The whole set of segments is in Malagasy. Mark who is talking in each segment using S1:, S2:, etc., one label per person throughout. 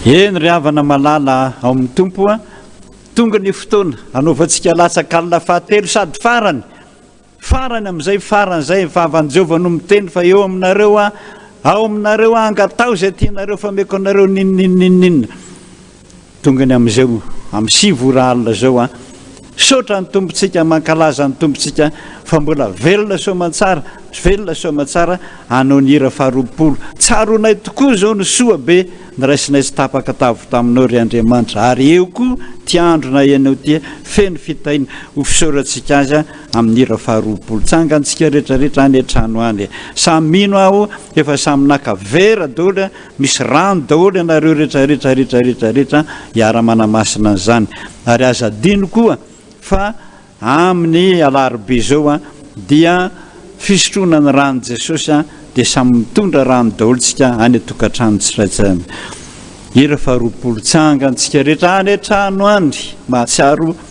S1: Eny ry havana malala ao amin'ny tompo a, tonga ny fotoana hanaovantsika latsaka alina fahatelo sady farany, farany amin'izay farany izay fa havan'i Jehovah no miteny fa eo aminareo a, ao aminareo a, angatao izay tianareo fa meko anareo ninninninninina. Tongany amizao am sivy ora alina zao an! Misaotra an'i Tompontsika, mankalaza an'i Tompontsika fa mbola velona soamantsara, velona soamantsara hanao ny hira faharoapolo. Tsaroanay tokoa zao ny soa be niraisinay sy tapaka tavy taminao ry Andriamanitra ary eo koa ty andro nahenao ty feno fitahiana ho fisaorantsika azy amin'ny hira faharoapolo. Tsangantsika retraretra any an-trano any e! Samy mino aho efa samy naka vera doly Misy rano daholo ianareo rehetra rehetra rehetra rehetra rehetra hiara manamasina an'izany ary aza adino koa fa amin'ny alarobia izao dia fisotroana ny ran'i Jesosy dia samy mitondra rano daholo tsika any tokantrano tsiraitsiray any ira faharoapolo tsangan tsika rehetra any an-trano any mahatsiaro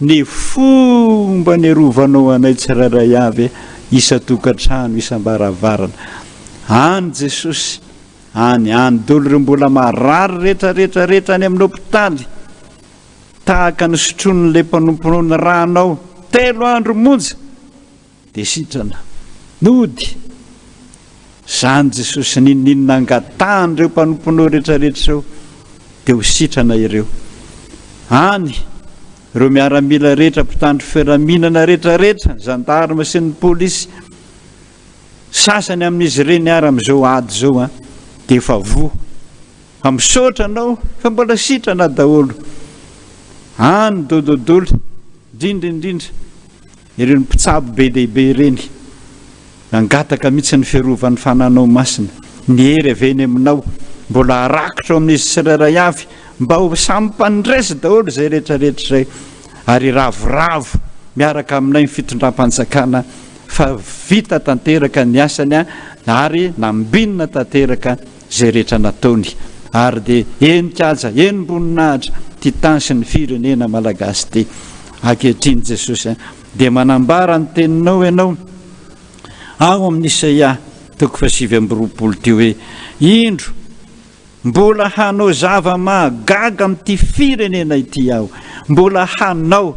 S1: Ny fomba niarovanao anay tsirairay avy, isan-tokantrano, isam-baravarana. Any Jesosy, any, any dolo ireo mbola marary rehetra, rehetra, rehetra any amin'ny hopitaly, tahaka ny sotroin'ilay mpanomponao ny Ranao, telo andro monja! Dia sitrana. Nody. Izany Jesosy ninininona angatahan'ireo mpanomponao rehetrarehetra ireo, dia ho sitrana ireo. Any, ireo miaramila rehetra, mpitandro filaminana rehetrarehetra, zandarma sy ny polisy, sasany amin'izy ireny ary amin'izao ady izao an, dia efa voa. Fa misaotra anao, fa mbola sitrana daholo. Any, dododoly, indrindra indrindra, Ireny mpitsabo be dia be ireny, nangataka mihitsy ny fiarovan'ny fananao masina. Ny hery avy eny aminao mbola harakitra ao amin'izy tsirairay avy, mba ho samy mpandresy daholo izay rehetra rehetra izay, ary hiravoravo miaraka aminay ny fitondram-panjakana fa vita tanteraka ny asany ary nambinina tanteraka zay rehetra nataony ary de eny kaja eny mboninahitra ty tany sy ny firenena malagasy ty akehitriny jesosy a de manambara ny teninao ianao ao amin'ny isaia toko fahasivy amby roapolo ty hoe indro mbola hanao zava-mahagaga amin'ity firenena ity aho mbola hanao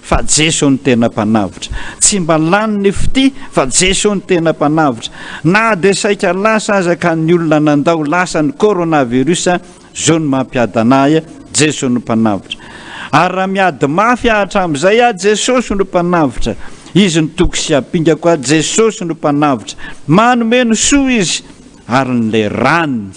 S1: Fa Jeso no tena mpanavotra. Tsy mba lany ny fitia fa Jeso no tena mpanavotra. Na dia saika lasa aza ka ny olona nandao lasa ny coronavirus zao no mampiadana ahy Jeso no mpanavotra. Ary raha miady mafy aho hatramin'izay aho Jesosy no mpanavotra. Izy no toky sy ampingako aho Jesosy no mpanavotra. Manome ny soa izy. Ary ny le rany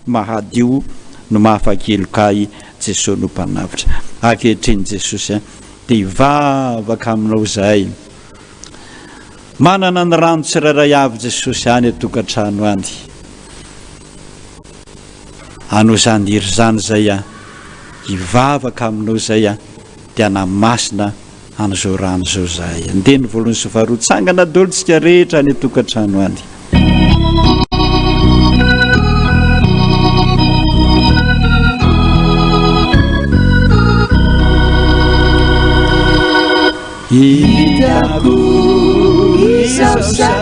S1: mahadio no mahafakeloka ahy Jesoa no mpanavotra Ankehitriny Jesosy a dia hivavaka aminao zahay Manana ny rano tsirairay avy Jesosy any an-tokantrano any Anao zany hery zany zay a Hivavaka aminao zay a dia anamasina Amin'izao rano izao zahay handeha ny voalohany sy faharoa tsangana dolo tsika rehetra any atokantrano any.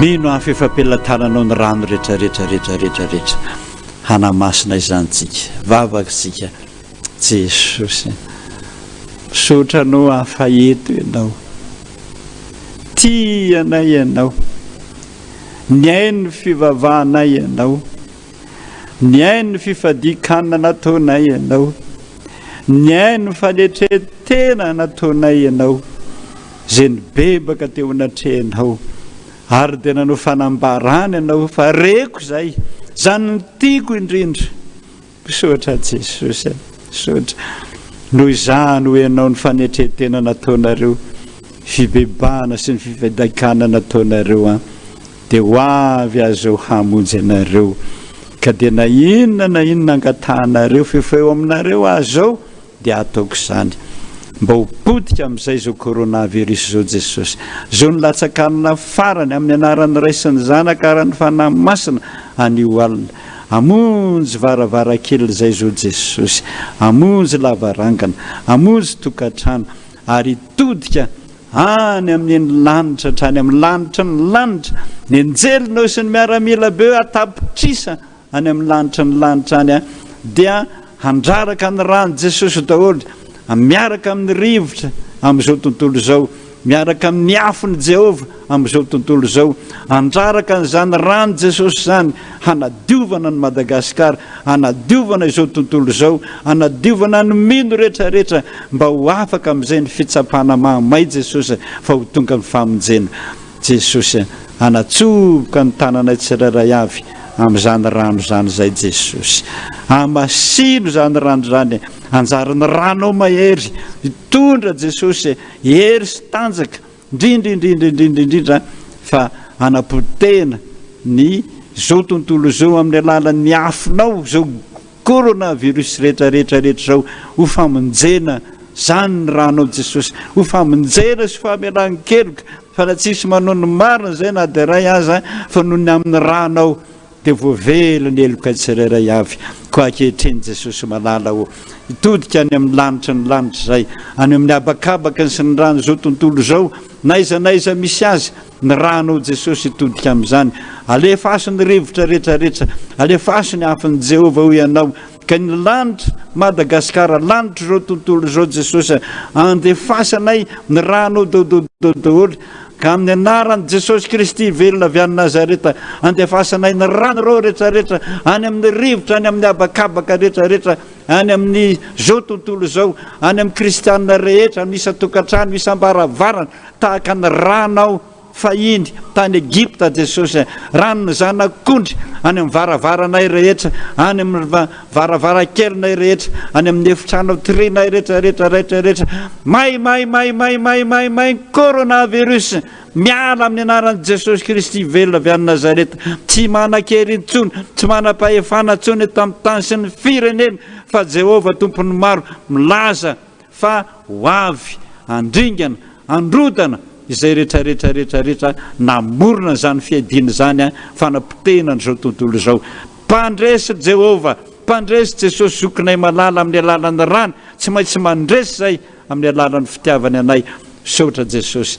S1: Mino aho fa efa am-pelatananao ny rano rehetra rehetra rehetra rehetra rehetra hanamasina izany tsika vavaka tsika Jesosy misaotra anao aho fa eto ianao tia anay ianao ny ainy ny fivavahanay ianao Nihaino ny fifadian-kanina nataonay ianao. Nihaino ny fanetren-tena nataonay ianao, izay nibebaka teo anatrehanao, ary dia nanao fanambarana ianao fa reko izay, izany no tiako indrindra. Misaotra Jesosy a! Misaotra. Noho izany hoy ianao ny fanetren-tena nataonareo, fibebahana sy ny fifadian-kanina nataonareo an. Dia ho avy Azy Zao hamonjy anareo, ka dia na inona na inona angatahanareo f'efa eo aminareo Azy Zao dia hataoko izany. Mba ho potika amin'izay izao coronavirus izao Jesosy. Zao ny latsakanina farany, amin'ny anaran'ny Ray sy ny Zanaka ary ny Fanahy Masina, anio alina. Amonjy varavarankely izay izao Jesosy. Amonjy lavarangana. Amonjy tokantrano. Ary hitodika Any amin'ny eny lanitra hatrany amin'ny lanitry ny lanitra, ny anjelinao sy ny miaramila beo an-tapitrisa any amin'ny lanitry ny lanitra any dia handraraka ny ran'i Jesosy daholo, miaraka amin'ny rivotra amin'izao tontolo izao, miaraka amin'ny afon'i Jehovah amin'izao tontolo izao. Handraraka an'izany ran'i Jesosy izany hanadiovana an'i Madagasikara, hanadiovana izao tontolo izao, hanadiovana ny mino rehetra rehetra mba ho afaka amin'izay ny fitsapana mahamay Jesosy fa ho tonga ny famonjena. Jesosy a! Hanatsofoka ny tananay tsirairay avy amin'izany rano izany izay Jesosy. Hamasino izany rano izany e! Hanjary ny ranao mahery hitondra Jesosy e! Hery sy tanjaka. Indrindra indrindra indrindra indrindra fa hanapotehina ny zao tontolo izao amin'ny alalan'ny afonao zao corona virus rehetra rehetra rehetra zao ho famonjena zany ny ranao Jesosy ho famonjena sy famelan keloka fa raha tsisy manao ny marina zay na dia iray aza fa noho ny amin'ny ranao dia voavelo ny heloka tsirairay avy, koa ankehitriny Jesosy malala ô, hitodika any amin'ny lanitra ny lanitra izay, any amin'ny habakabakany sy ny ran'izao tontolo izao, na aiza na aiza misy azy, ny rano ô Jesosy hitodika amin'izany, alefaso ny rivotra rehetra rehetra, alefaso ny afon'i Jehovah hoy ianao, Ka ny lanitra, Madagasikara, lanitr'izao tontolo izao Jesosy a, andefasanay ny rànao dododo daholo, ka amin'ny anaran'i Jesosy Kristy velona avy any Nazareta, andefasanay ny rànarao retraretra any amin'ny rivotra, any amin'ny habakabaka retraretra, any amin'izao tontolo izao, any amin'ny kristianina rehetra, amin'ny isan-tokantrano, isam-baravarana, tahaka ny rànao. Fahiny, tany Egypta, Jesosy, raha ny Zanak'ondry, any amin'ny varavaranay rehetra, any amin'ny varavarankelinay rehetra, any amin'ny efitrano trinay rehetra, rehetra, rehetra, rehetra. May, may, may, may, may, may, may ny coronavirus! Miala amin'ny anaran'i Jesosy Kristy velona avy any Nazareta. Tsy manan-kery intsony, tsy manam-pahefana intsony eto amin'ny tany sy ny firenena, fa Jehovah Tompon'ny maro milaza Fa ho avy handringana, handrodana izay retraretra retraretra namorona izany fiadiana izany fanapotehina an'izao tontolo izao. Mpandresy ry Jehovah, mpandresy Jesosy Zokinay malala amin'ny alalan'ny rany, tsy maintsy mandresy izay amin'ny alalan'ny fitiavany anay. Misaotra Jesosy.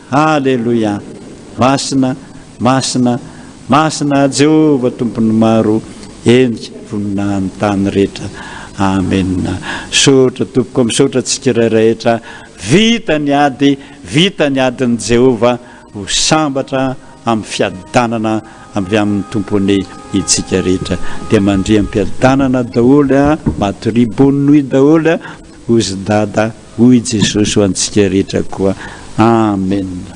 S1: Aleloia! Masina, masina, masina Jehovah Tompon'ny maro henika voninahiny tany rehetra. Amena. Misaotra tompoko, misaotra tsikirairay rehetra. Vita ny ady, vita ny adin'i Jehovah. Ho sambatra amin'ny fiadanana avy amin'ny Tompony itsika rehetra. Dia mandria am-piadanana daholo a! Matoria, bonne nuit daholo a! Hozy Dada hoy Jesosy ho antsika rehetra koa Amen.